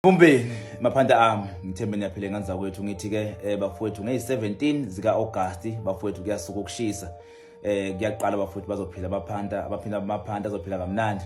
Mpumbeni maphanda ami ngithembe niyaphila ingane zakwethu ngithi ke eh, bafowethu ngeyi-17 zika-Agasti bafowethu kuyasuka ukushisa eh kuyaqala bafowethu bazophila abaphanda abaphila amaphanda azophila kamnandi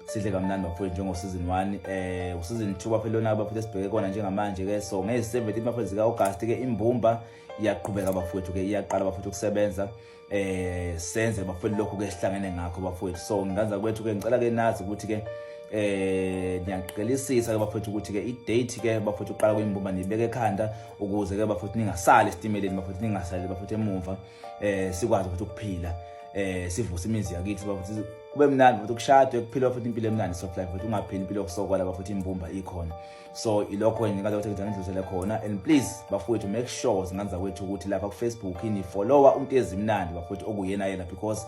sidle kamnandi bafowethu njengosizini 1 eh usizini 2 baphela lona baphila sibheke kona njengamanje ke so ngeyi-17 bafowethu zika-Agasti ke imbumba iyaqhubeka bafowethu ke iyaqala bafowethu ukusebenza eh senze bafowethu lokho ke sihlangene ngakho bafowethu so nganza kwethu ke ngicela ke nazi ukuthi ke eh ngiyaqinisisa ke bafowethu ukuthi ke i-date ke bafowethu uqala kuyimbumba nibeke ekhanda ukuze ke bafowethu ningasali esitimeleni bafowethu ningasali bafowethu emuva eh sikwazi ukuthi ukuphila eh sivuse imizi yakithi bafowethu kube mnandi bafowethu kushadwe kuphilwa futhi impilo emnandi soft life bafowethu ungaphili impilo yokusokola bafowethu imbumba ikhona so ilokho ngikathi ukuthi ngithanda ngidlulisele khona and please bafowethu make sure zingane zakwethu ukuthi lapha kufacebook nifollowa umuntu ezimnandi bafowethu okuyena yena because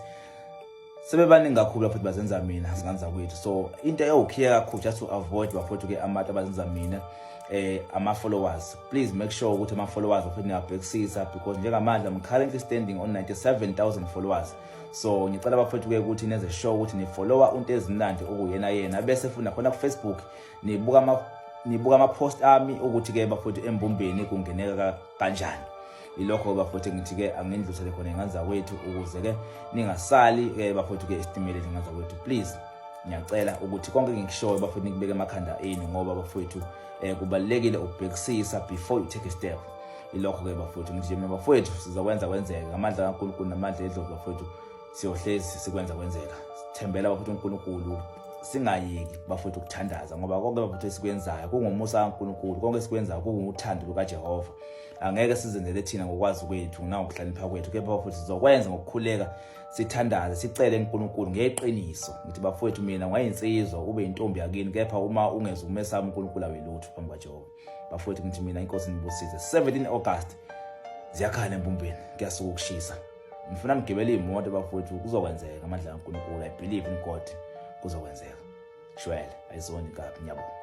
sebebaningi kakhulu bafowethu bazenza mina zingane zakwethu so into eyawukhiye kakhulu just to avoid bafowethu ke amati abazenza mina eh ama-followers please make sure ukuthi ama-followers bafowethu niyabhekisisa because njengamanje i'm currently standing on 97000 followers so ngicela bafowethu ke ukuthi nenze sure ukuthi nifollowa umuntu ezimnandi okuyena yena bese futhi nakhona kufacebook nibuka ama nibuka ama post ami ukuthi ke bafowethu embumbeni kungeneka kanjani ilokho bafowethu ngithi ke angindlusele khona inganza kwethu ukuze ke ningasali ke bafowethu ke isitimele inganza kwethu please ngiyacela ukuthi konke ngikushoyo bafowethu nikubeke emakhanda enu ngoba bafowethu eh kubalekile ukubhekisisa before you take a step ilokho ke bafowethu ngijimela bafowethu sizokwenza kwenzeke ngamandla kaNkulunkulu namandla edlozi bafowethu siyohlezi sikwenza kwenzeka sithembela bafethu uNkulunkulu singayeki bafethu ukuthandaza ngoba konke bafethu esikwenzayo kungomusa kaNkulunkulu konke esikwenzayo kunguthando lukaJehova angeke sizenzele thina ngokwazi kwethu nangokuhlakanipha kwethu kepha bafethu sizokwenza ngokukhuleka sithandaze sicele uNkulunkulu ngeqiniso ngithi bafethu mina ngwayinsizwa ube intombi yakini kepha uma ungeza umesama uNkulunkulu awelutho phambi kwaJehova bafethu ngithi mina inkosi nibusize 17 August ziyakhala empumpeni kuyasuka ukushisa ngifuna nigibele iy'moto bafowethu kuzokwenzeka amandla kankulunkulu i believe in god kuzokwenzeka shwele ayizoni kabi ngiyabonga